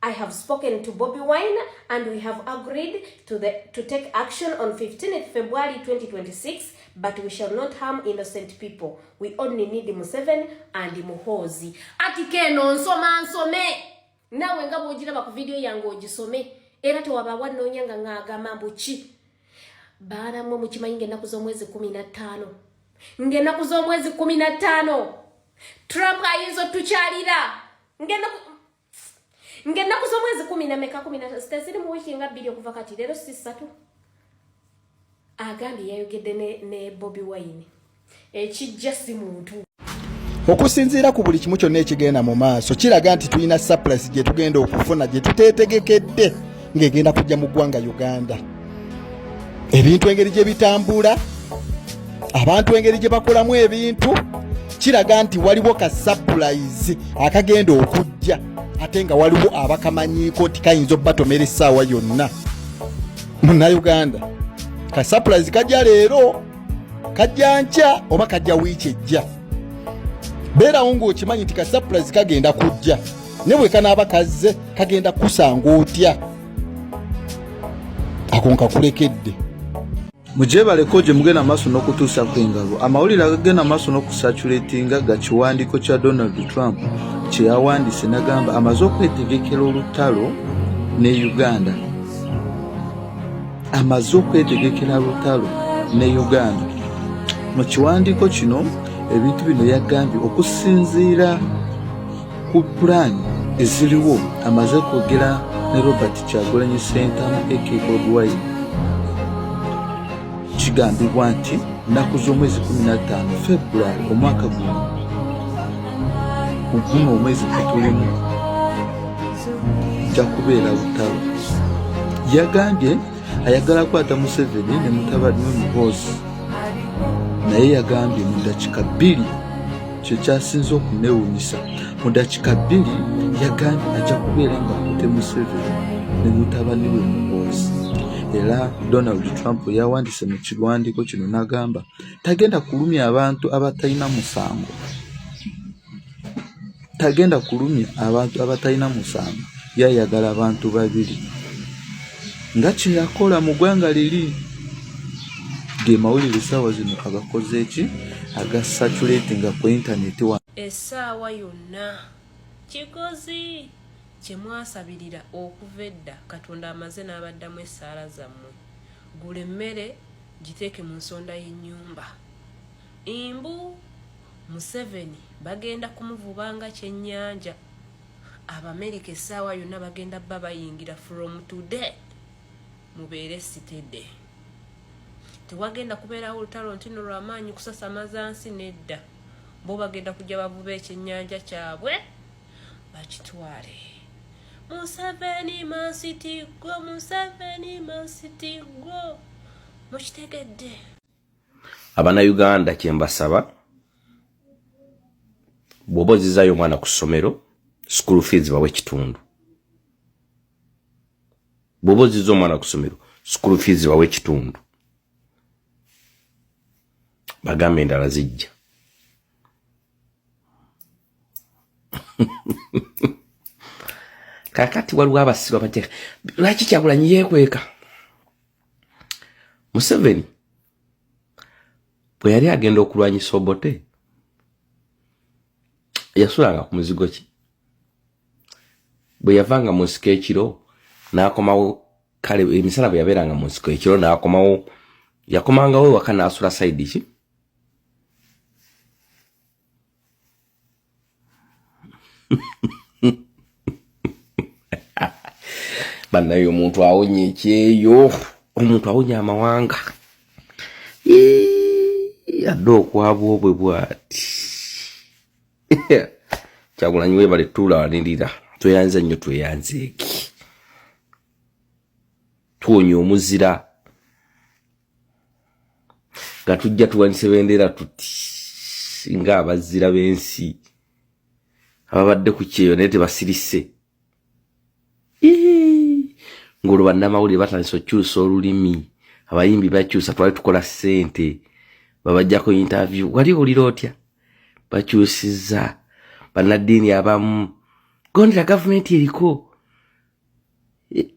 I have spoken to Bobby Wine and we have agreed to, the, to take action on 15th February 2026, but we shall not harm innocent people. We only need Museven and Muhozi. Ati keno nsoma nsome. Nawe nga bwojira baku video yangu ojisome. Era to wabawa nonya nga nga agama mbuchi. Baana mwe mchima inge nakuzo mwezi kuminatano. Nge nakuzo mwezi kuminatano. Trump ayizo tucharira. Nge nakuzo ng'ennaku z'omwezi kumi na meka kumi natatu teziri mu wiiki nga bbiri okuva kati leero si ssatu agambye yayogedde ne bobi wine ekijja si muntu okusinziira ku buli kimu kyonna ekigenda mu maaso kiraga nti tulina surplus gye tugenda okufuna gye tuteetegekedde ng'egenda kujja mu ggwanga uganda ebintu engeri gye bitambula abantu engeri gye bakolamu ebintu kiraga nti waliwo ka sapulayizi akagenda okujja ate nga waliwo abakamanyiiko nti kayinza obatomera essaawa yonna munauganda ka sapulayizi kajja leero kajja nkya oba kajja wiiki ejja beerawo ng'okimanyi nti ka sapulayizi kagenda kujja ne bwe kanaaba kazze kagenda kusanga otya ako nkakulekedde mugyebaleko gye mugenda maaso n'okutuusa ku engalo amawulire agagenda maaso n'okusaculatinga ga kiwandiiko kya donald trump kye yawandiise nagamba amaze okwetegekera olutalo ne uganda amaze okwetegekera lutalo ne uganda mu kiwandiiko kino ebintu bino yagambye okusinziira ku pulaani eziriwo amaze okwogera ne robert kyagulanyi sentamu ekbwy kigambibwa nti nnaku z'omwezi 15 february omwaka guno muguno omwezi gutulimu ja kubeera lutalo yagambye ayagala kwata museveni ne mutabani we muhoozi naye yagambye mu dakika bbiri kye kyasinze okunewunyisa mu dakika bbiri yagambye ajja kubeera nga akute museveni ne mutabani we muhoozi era donald trump yawandise mu kiwandiiko kino n'agamba tagenda kulumya abantu abatalina musango tagenda kulumya abantu abatalina musango yayagala abantu babiri nga kyeyakola mu gwanga liri gemawulire esaawa zino agakoze eki aga saturatinga ku intaneti wa esaawa yonna kikozi kyemwasabirira okuva edda katonda amaze n'abaddamu essaala zammwe gula emmere giteeke mu nsonda y'ennyumba imbu museveni bagenda kumuvuba nga kyennyanja abamerika essaawa yonna bagenda bba bayingira from today mubeere sitede tewagenda kubeerawo olutalo ntino lwamaanyi kusasamaza nsi nedda bo bagenda kujja bavuba ekyennyanja kyabwe bakitwale museveni mansiti gwo museveni mansiti gwo mukitegedde abana uganda kyembasaba bwoba ozizayo omwana ku ssomero school fees bawe ekitundu bwoba oziza omwana ku ssomero school fees bawe ekitundu bagambe endala zijja kakati waliwo abasiru abajja lwaki kyagulanyi yekweka museveni bwe yali agenda okulwanyisa obote yasulanga ku muzigo ki bwe yavanga mu nsiko ekiro n'akomawo kale emisala bwe yabeeranga mu nsiko ekiro n'akomawo yakomangawo ewaka n'asula sayidi ki banaye omuntu awonye ekyeyo omuntu awonye amawanga adde okwabwa obwe bwati kyagulanyi webale tuula wanirira tweyanza nnyo tweyanzeeki tuwonya omuzira nga tujja tuwanise bendera tuti nga abazira b'ensi ababadde ku kyeyo naye tebasirise ng'olwo bannamawulire batandisa okukyusa olulimi abayimbi bakyusa twali tukola ssente babajjako intavyu wali owulira otya bakyusiza bannaddiini abamu gondera gavumenti eriko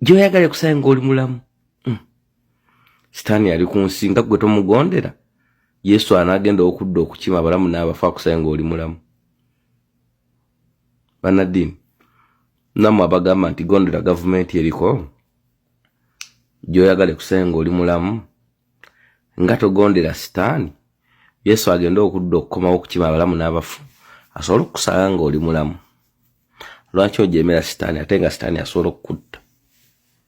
gyoyagala ekusanga ng'oli mulamu sitaani yali ku nsi nga gwe tomugondera yesu anagenda okudda okukima abalamu n'abafu akusaye ng'oli mulamu banaddiini namwe abagamba nti gondera gavumenti eriko gyoyagala ekusaye ng'oli mulamu nga togondera sitaani yesu agenda okudda okukomawo okukima abalamu n'abafu asobole okukusanga ng'oli mulamu lwaki ojemera sitaani ate nga sitaani asobola okukutta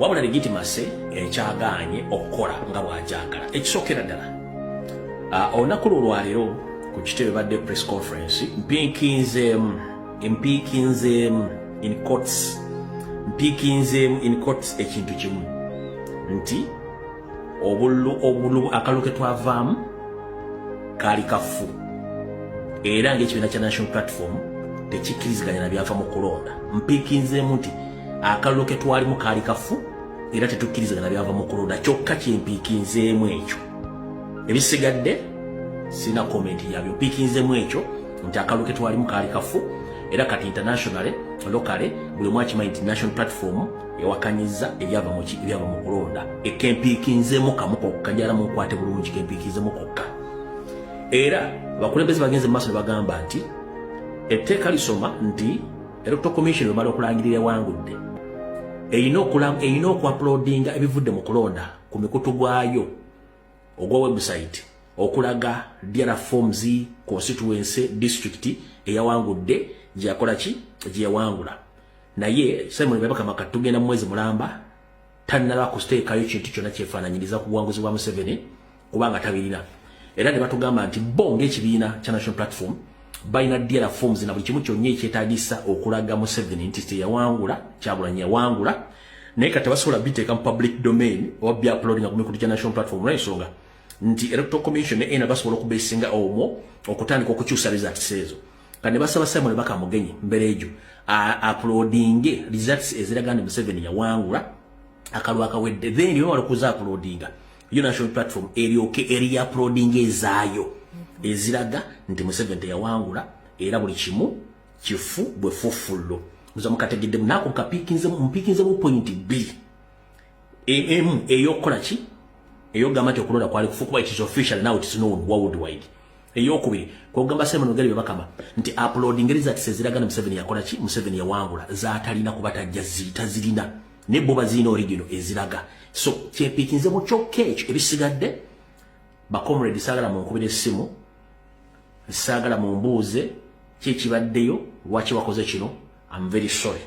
wabula legitimase ekyagaanye eh, okukola nga bwagyagala ekisookera ddala ah, olunaku lwo olwaleero ku kitebe badde press conference mpiikinzeemu mpiikinzeemu in courts mpiikinzeemu in courts ekintu kimu nti obululu obululu akalulu ketwavaamu kaali kafu era ngaekibiina kya national platform tekikkiriziganya na byava mu kulonda mpiikinzeemu nti akalulu ketwalimu kaali kafu era tetukkiriziganya na byava mu kulonda kyokka kyempiikinzeemu ekyo ebisigadde sina komenti yabyo mpiikinzeemu ekyo nti akalulu ketwalimu kaali kafu era kati internationally lokale buli omu akimanyi nti national platform yawakanyizza ebyava mu ebyava mu kulonda ekempiikinzemu kamu kokka njala munkwate bulungi kempiikinzemu kokka era abakulembeze bagenze mu maaso ne bagamba nti etteeka lisoma nti electoral commission emala okulangirira ewangudde erina okuapulodinga ebivudde mu kulonda ku mikutu gwayo ogwa website okulaga dra forms constituency district eyawangudde gyeyakola ki gyeyawangula naye Simon Bebaka Makati tugenda mu mwezi mulamba tannaba kusteekayo kintu kyonna kyefaananyiriza ku buwanguzi bwa Museveni kubanga tabirina era ne batugamba nti bo ng'ekibiina kya National Platform balina dealer forms na buli kimu kyonna ekyetagisa okulaga Museveni nti teyawangula Kyagulanyi yawangula naye kati basobola biteeka mu public domain oba byapulodinga ku mikutu gya National Platform olw'ensonga nti Electoral Commission ne ena basobola okubesinga omwo okutandika okukyusa results ezo kane basaba Simon baka mugenyi mbelejo uploadinge results eziraga nti Museveni yawangula akalwa akawedde then yo walokuza uploadinga yo national platform eryoke eri uploadinge ezayo eziraga nti Museveni teyawangula era buli kimu kifu bwe fufullo muza mukategedde nako kapikinze mpikinze mu point B e, emu eyokukola ki eyogamba nti okulonda kwali kufu kuba itis official now itis known worldwide eyokubiri kwogamba simon ogeri bebakama nti upload ngeri zatiseziraga ne museveni yakola ki museveni yawangula zatalina kuba tajja zita zirina ne bo bazirina origino eziraga so kyepikinze mu kyokka ekyo ebisigadde bakomredi saagala munkubira essimu saagala mumbuuze kyekibaddeyo lwaki wakoze kino am very sorry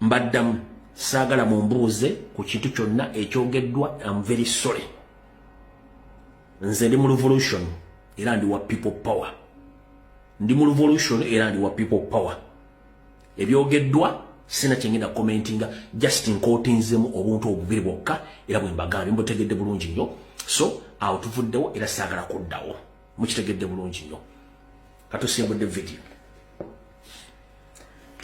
mbaddamu saagala mumbuuze ku kintu kyonna ekyogeddwa am very sorry nze ndi mu revolution era ndi wa people power ndi mu revolution era ndi wa people power ebyogeddwa sina kyengenda commentinga just nkotinzemu obuntu obubiri bwokka era bwe mbagambye mbutegedde bulungi nnyo so awo tuvuddewo era saagala kuddawo mukitegedde bulungi nnyo katusimbudde video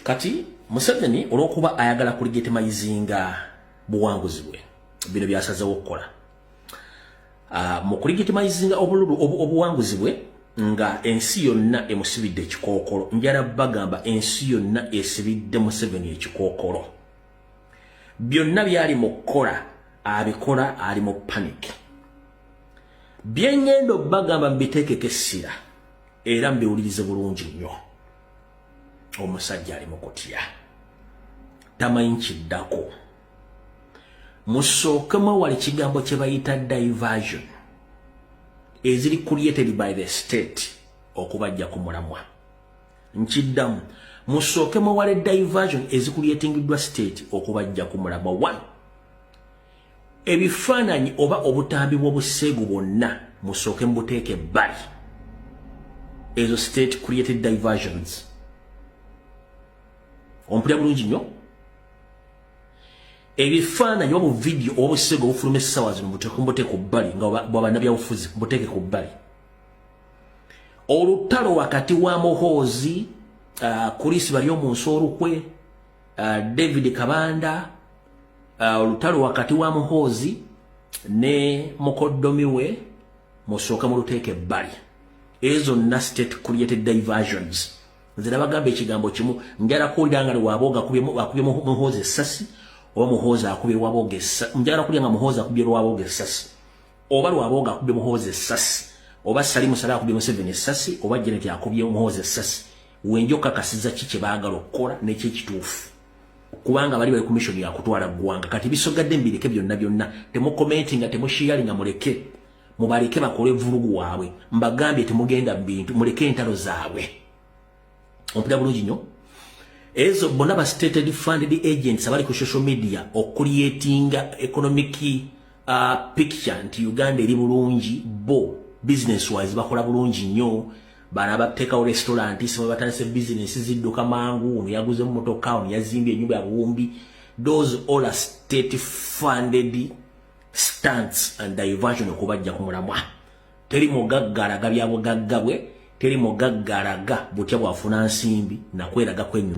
kati museveni olwokuba ayagala kuligitimayizinga buwanguzi bwe bino byasazewo okukola ah, mu kuligitimayizinga obululu obuwanguzi bwe nga ensi yonna emusibidde ekikookolo njala bagamba ensi yonna esibidde museveni ekikookolo byonna byali mu kukola abikola ali mu panic byengendo bagamba mbiteekeko essira era mbiwulirize bulungi nnyo omusajja ali mukutya tamanyi kiddako musookemu awali kigambo kye bayita diversion eziri created by the state okubajja ku mulamwa nkiddamu musookemu awali diversion ezikuliatingiddwa state okubajja ku mulamwa one ebifaananyi oba obutambi bw'obuseegu bwonna musooke mubuteeka ebbali ezo state created diversions ompulira bulungi nnyo ebifaananyi oba buvidiyo oba obuseegu obufuluma essaawa zino mubuteeka ku bbali nga bwabanabyabufuzi mubuteeke ku bbali olutalo wakati wa mohoozi uh, kulisi bali omunsi olukwe uh, David Kabanda uh, olutalo wakati wa Muhoozi ne mukoddomi we musooke muluteeke ebbali ezo zonna state created diversions nze nabagamba ekigambo kimu njala kuwulira nga lwabooga akubye muhoozi essasi oba muhoozi akubye lwabooga essasi njala kuwulira nga muhoozi akubye lwabooga essasi oba lwabooga akubye muhoozi essasi oba sali musala akubye museveni essasi oba jeneti akubye muhoozi essasi wenjo kakasiza ki kye baagala okukola nekyekituufu kubanga bali bali komishoni yakutwala ggwanga kati bisogadde mbireke byonna byonna temukomenti nga temushiyali nga muleke mubaleke bakole vulugu waabwe mbagambye temugenda mubintu muleke entalo zaabwe ompita bulungi nyo ezo bona ba stated funded agents abali ku social media okuliyetinga economic uh, picture nti uganda eri bulungi bo business wise bakola bulungi nyo bano abateekawo restaurant sima batandise business zidduka mangu ono yaguze mu motoka ono yazimbye enyumba ya buwumbi those all are state funded stunts and diversion okubajja ku mulamwa teri mugagga alaga bya bugagga bwe teri mugagga alaga butya bwafuna nsimbi nakweraga kwenyuma